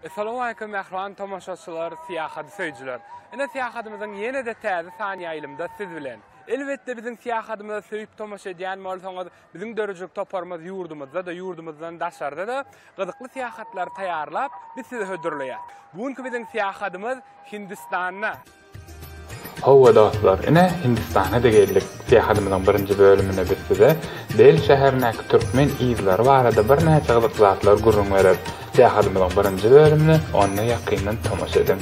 Essalowaleýkum mähriban tomaşaçylar, syýahaty söýüjiler! Ine syýahatymyzyň ýene-de täze sany ýaýlymda siz bilen. Elbetde biziň syýahatymyza söýüp tomaşa edýän bolsaňyz, biziň dörüjilik toparymyz ýurdumyzda-da, ýurdumyzdan daşarda-da gyzykly syýahatlary taýýarlap, biz size hödürleýär. Bu günki biziň syýahatymyz Hindistanda. Howwa dostlar, ine Hindistana-da geldik. Syýahatymyzyň birinji bölüminde biz size Deli şäherindäki türkmen yzlary barada birnäçe gyzyk zatlar gürrüň bereris. Syýahatymyzyň birinji bölümine onda ýakyndan tomaşa ediň.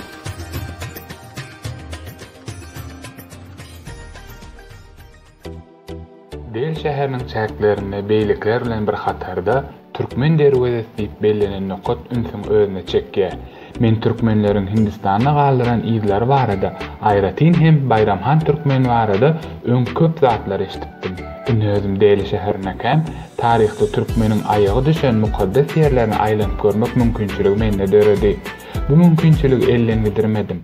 Bel şäheriniň çäklerinde beýlekiler bilen bir hatarda Türkmen derwezesi diýip bellenen nokat ünsüňi özüne çekýär. Men türkmenleriň Hindistanda galdyran yzlary barada, aýratyn hem Baýramhan Türkmen barada öň köp zatlar eşidipdim. Indi özüm Deli şäherinekäm, taryhda türkmeniň aýagy düşen mukaddes ýerlerini aýlanyp görmek mümkinçiligi mende döredi. Bu mümkinçiligi elden gidirmedim.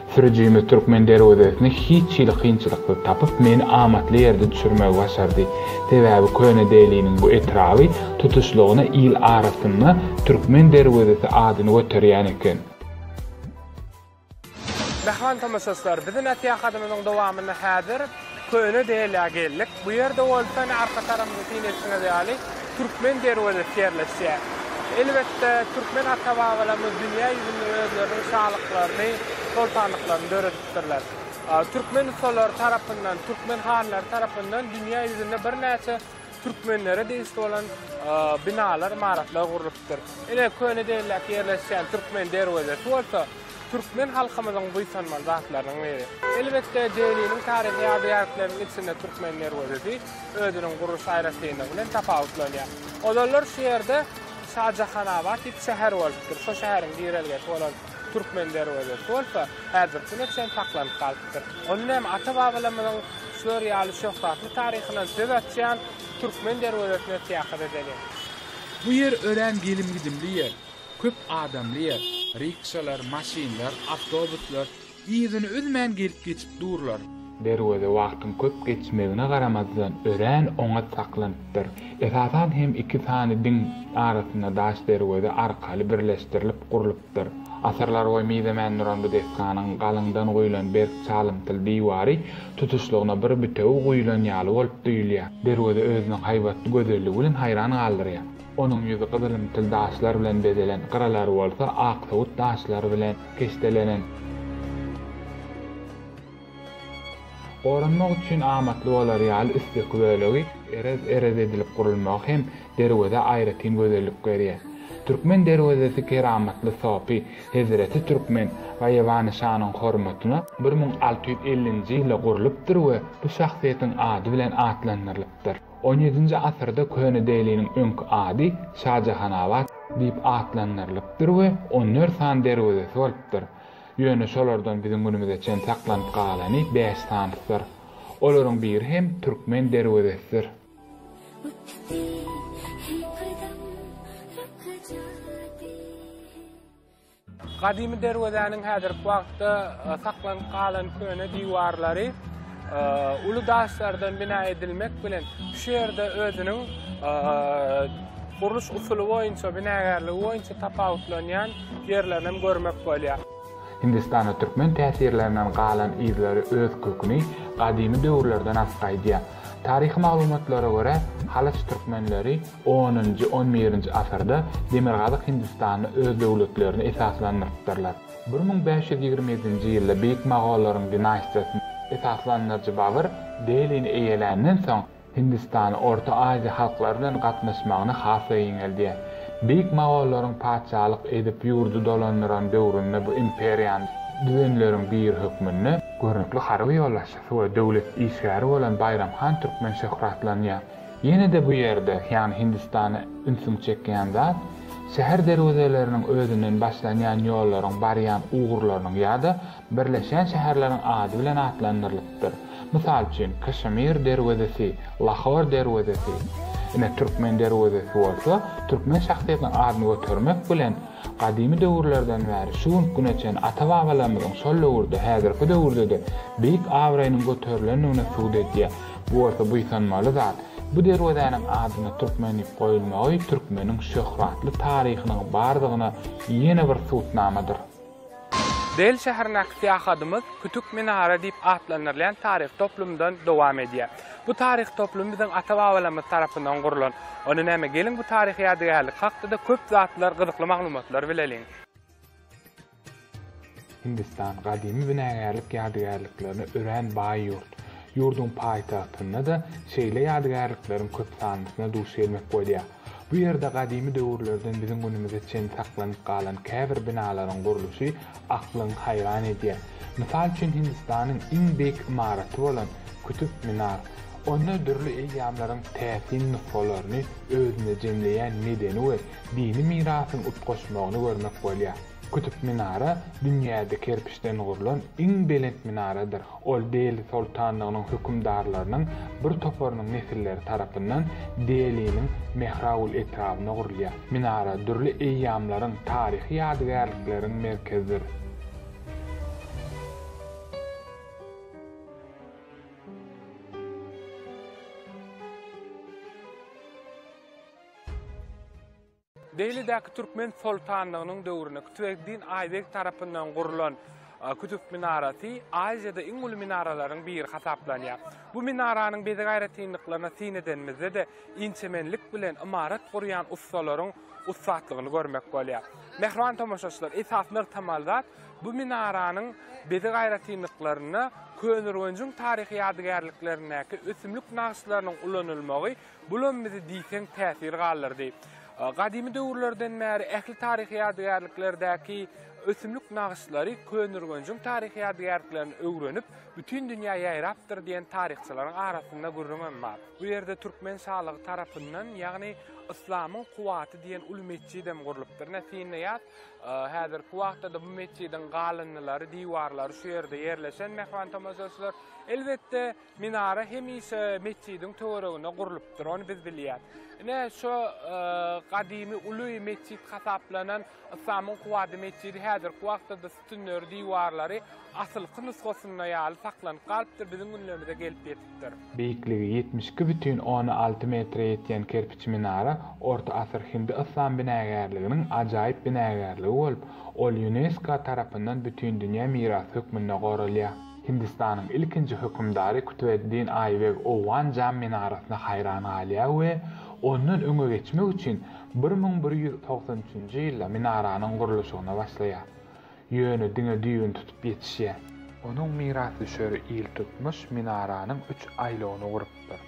Sürüjimiz Türkmen derwezesini hiç hili kynçylyksyz tapyp, meni amatly ýerde düşürmegi başardy. Sebäbi Köne Deliniň bu etraby tutuşlygyna il arasynda Türkmen derwezesi adyny göterýän eken. Mähriban tomaşaçylar, biziň syýahatymyzyň dowamynda häzir. Köne Delýa geldik. Bu ýerde bolsa ine arka tarapymda syn etdiňiz ýaly Türkmen derwezesi ýerleşýär. Elbetde türkmen ata-babalarymyz dünýä ýüzünde özleriniň şalyklaryny, soltanlyklaryny döredipdirler. Türkmen ussalaryr tarapyndan, türkmen hanlary tarapyndan dünýä ýüzünde birnäçe türkmenlere degişli bolan binalar, ymaratlar gurlupdyr. Ine Köne Delýa ýerleşýän Türkmen derwezesi bolsa, Türkmen halkymyzyň buýsanmaly zatlarynyň biri. Elbetde, Deliniň taryhy ýadygärlikleriniň içinde Türkmen derwezesi özüniň gurluş aýratynlygy bilen tapawutlanýar. Ozallar şu ýerde Şajahanabat diýip şäher bolupdyr. Şo şäheriň girelgesi bolan Türkmen derwezesi bolsa häzirki güne çen saklanyp galypdyr. Ony hem ata-babalarymyzyň şular ýaly şöhratly taryhyndan söz açýan Türkmen derwezesine syýahat edeliň. Bu ýer örän gelim-gidimli ýer. Köp adamly ýer. Rikşalar, maşynlar, awtobuslar yzyny üzmän gelip-geçip durlar. Derweze wagtyň köp geçmegine garamazdan, örän oňat saklanypdyr. Esasan hem iki sany diň arasynda daş derweze arkaly birleşdirilip gurlupdyr. Asyrlarboýy mizemän duran bu desganyň galyňdan guýlan berk çalymtyl diwary tutuşlygyna bir bütewi guýlan ýaly bolup duýulýar. Derweze özüniň haýbatly gözelligi bilen haýran galdyrýar. Onuň ýüzi gyzylymtyl daşlar bilen bezelen, gyralary bolsa aksowut daşlar bilen keşdelenen. Goranmak üçin amatly bolar ýaly üstdeki bölegi erez-erez edilip gurulmagy hem derwezä aýratyn gözellik berýär. Türkmen derwezesi keramatly sopy Hezreti Türkmen Gaýybany şanyň hormatyna bir müň alty ýüz ellinji ýylda gurlupdyr we bu şahsyýetiň ady bilen atlandyrylypdyr. On ýedinji asyrda Köne Deliniň öňki ady Şajahanabat diýip atlandyrylypdyr we on dört sany derwezesi bolupdyr. Ýöne şolardan biziň günümize çen saklanyp galany bäş sanysydyr. Olaryň biri hem Türkmen derwezesidir. Gadymy derwezäniň häzirki wagtda saklanyp galan köne diwarlary uly daşlardan bina edilmek bilen, şu ýerde özüniň gurluş usuly boýunça, binagärligi boýunça tapawutlanýan ýerlerini hem görmek bolýar. Hindistanda türkmen täsirlerinden galan yzlary öz köküni gadymy döwürlerden-ap gaýdýar. Taryhy maglumatlara görä, halyç türkmenleri, Onunjy, on birinji asyrda Demirgazyk Hindistanda öz döwletlerini esaslandyrypdyrlar. Bir müň bäş ýüz ýigrimi ýedinji ýylda beýik mogollaryň dinastiýasyny esaslandyryjy Babyr Delini eýeländen soň, Hindistanyň Orta Aziýa halklary bilen gatnaşmagyny has-da giňeldýär. Beýik mogollaryň patyşalyk edip ýurdy dolandyran döwründe bu imperiýany düzenleriň biri hökmünde, görnükli harby ýolbaşçysy we döwlet işgäri bolan Baýram han Türkmen şöhratlanýar. Ýene-de bu ýerde, ýagny Hindistanda ünsüňi çekýän zat, şäher derwezeleriniň özünden başlanýan ýollaryň barýan ugurlarynyň ýa-da birleşýän şäherleriň ady bilen atlandyrylypdyr. Mysal üçin, Kaşmir derwezesi, Lahor derwezesi. Ine, Türkmen derwezesi bolsa, türkmen şahsyýetiniň adyny götermek bilen, gadymy döwürlerden bäri şu günki güne çenli ata-babalarymyzyň şol döwürde, häzirki döwürde-de beýik abraýynyň göterilendigini subut edýär. Bu bolsa buýsanmaly zat. Bu derwezäniň adyna Türkmen diýip goýulmagy türkmeniň şöhratly taryhynyň bardygyna ýene bir subutnamadyr. Dehli şäherindäki syýahatymyz Kütük Minara diýip atlandyrylýan taryhy toplumdan dowam edýär. Bu taryhy toplum biziň ata-babalarymyz tarapyndan gurlan. Onda näme, geliň bu taryhy ýadygärlik hakda-da köp zatlar, gyzykly maglumatlar bileliň. Hindistan gadymy binagärlik ýadygärliklerine örän baý ýurt. Ýurduň paýtagtynda-da şeýle ýadygärlikleriň köp sanlysyna duş gelmek bolýar. Bu ýerde gadymy döwürlerden biziň günümize çenli saklanyp galan käbir binalaryň gurluşy aklyňy haýran edýär. Mysal üçin Hindistanyň iň beýik ymaraty bolan Kutub Minar. Onda dürli eýýamlaryň täsin nusgalaryny özünde jemleýän medeni we Dini mirasyň utgaşmagyny görmek bolýar. Kütüp minara dünýäde kerpiçden gurlan iň belent minaradyr. Ol Deli soltanlygynyň hökümdarlarynyň bir toparynyň nesilleri tarapyndan Deliniň Mehraul etrabynda gurulýar. Minara dürli eýýamlaryň, taryhy ýadygärlikleriň merkezidir. Dehlidäki türkmen soltanlygynyň döwründe Kutubeddin Aýbeg tarapyndan gurlan Kutup minarasy Aziýada iň uly minaralaryň biri hasaplanýar. Bu minaranyň bezeg aýratynlyklaryna syn edenimizde-de, inçemenlik bilen ymarat gurýan ussalaryň ussatlygyny görmek bolýar. Mähriban tomaşaçylar, esasy nygtamaly zat, bu minaranyň bezeg aýratynlyklarynda Köneürgenjiň taryhy ýadygärliklerindäki ösümlik nagyşlarynyň ulanylmagy Bulam bizi diýseň täsir galdyrdy. Gadymy döwürlerden bäri ähli taryhy ýadygärliklerdäki ösümlik nagyşlary Köneürgenjiň taryhy ýadygärliklerini öwrenip, bütin dünýä ýaýrapdyr diýen taryhçylaryň arasynda gürrüňem bar. Bu ýerde türkmen şalygy tarapyndan, ýagny Yslamyň kuwwaty diýen uly metjidem gurlupdyr. Ine, synlaýas, häzirki wagtda-da bu metjidiň galyndylary, diwarlary şu ýerde ýerleşen, mähman tomaşaçylar. Elbetde. Minara hemişe metjidiň töwereginde gurlupdyr, ony biz bilýäris. Ine, şu gadymy uly metjit hasaplanan Yslamyň Kuwady metjidi häzirki wagtda-da sütünleri, diwarlary asylky nusgasynda ýaly saklanyp galypdyr, biziň günlerimize gelip ýetipdir. Beýikligi ýetmiş iki bütin ony alty metre ýetýän kerpiç minara orta asyr hindi-yslam binagärliginiň ajaýyp binagärligi bolup, ol Ýunesko tarapyndan Bütindünýä mirasy hökmünde goralýar. Hindistanyň ilkinji hökümdary Kutubeddin Aýbeg Owgan Jam minarasyna haýran galýar we ondan öňe geçmek üçin bir müň bir ýüz togsan üçünji ýylda minaranyň gurluşygyna başlaýar. Ýöne diňe düýbüni tutup ýetişýär. Onuň mirasdüşeri iltutmuş minaranyň üç aýlawyny gurup, bolupdyr.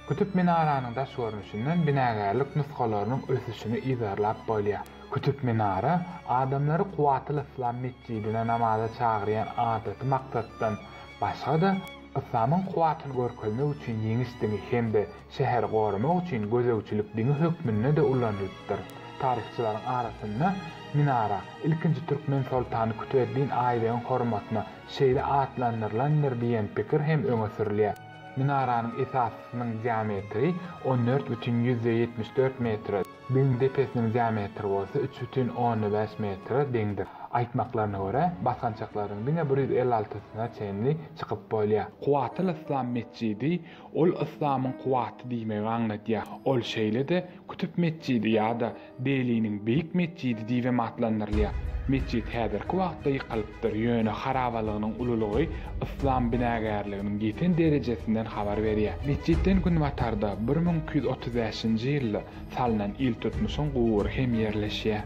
Kutup minaranyň daş görnüşinden binagärlik nusgalarynyň ösüşini yzarlap bolýar. Kutup minara adamlary Kuwwatyl Yslam metjidine namaza çagyrýan adaty maksatdan başga-da, Yslamyň kuwwatyny görkezmek üçin ýeňiş diňi hem-de şäheri goramak üçin gözegçilik diňi hökmünde-de ulanylypdyr. Taryhçylaryň arasynda minara ilkinji türkmen soltany Kutbeddin Aýbegiň hormatyna şeýle atlandyrylandyr diýen pikir hem öňe sürülýär. Minaranyň esasysynyň diametri on dört bütin ýüzde ýetmiş dört metre, biziň depesiniň diametri bolsa üç bütin onda bäş metre deňdir. Aýtmaklaryna görä, basgançaklaryň diňe bir ýüz elli altysyna çenli çykyp bolýar. Kuwwatly Yslam metjidi, ol yslamyň kuwwaty diýmegi aňladýar. Ol şeýle-de Kütüp metjidi ýa-da Deliniň Beýik metjidi diýibem atlandyrylýar. Metjit häzirki wagtda ýykylypdyr, ýöne harabalygynyň ululygy yslam binagärliginiň ýeten derejesinden habar berýär. Metjitden günbatarda bir müň iki ýüz otuz bäşinji ýylda salnan iltutmuşyň gubury hem ýerleşýär.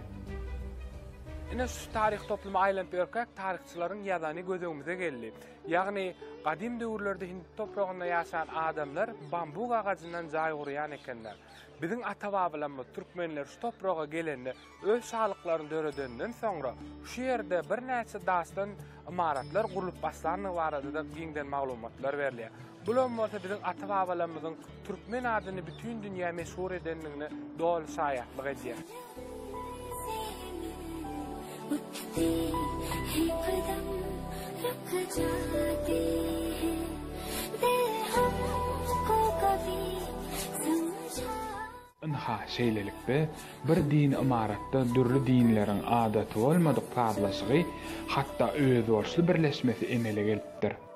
Ine şu taryh toplumy aýlanyp ýörkäk taryhçylaryň ýazany göz öňümize geldi. Ýagny, gadym döwürlerde hindi topragynda ýaşan adamlar bambuk agajyndan jaý gurýan ekenler. Biziň ata-babalarymyz türkmenler şu topraga gelende öz şalyklaryny döredeninden soňra şu ýerde birnäçe daşdan ymaratlar gurlup başlandygy barada-da giňden maglumatlar berilýär. Bulam bolsa biziň ata-babalarymyzyň türkmen adyny bütin dünýä meşhur edendigine doly şaýatlyk edýär. Ynha, şeýlelikde, bir dini ymaratda dürli dinleriň adaty bolmadyk sazlaşygy, hatda özboluşly birleşmesi emele gelipdir.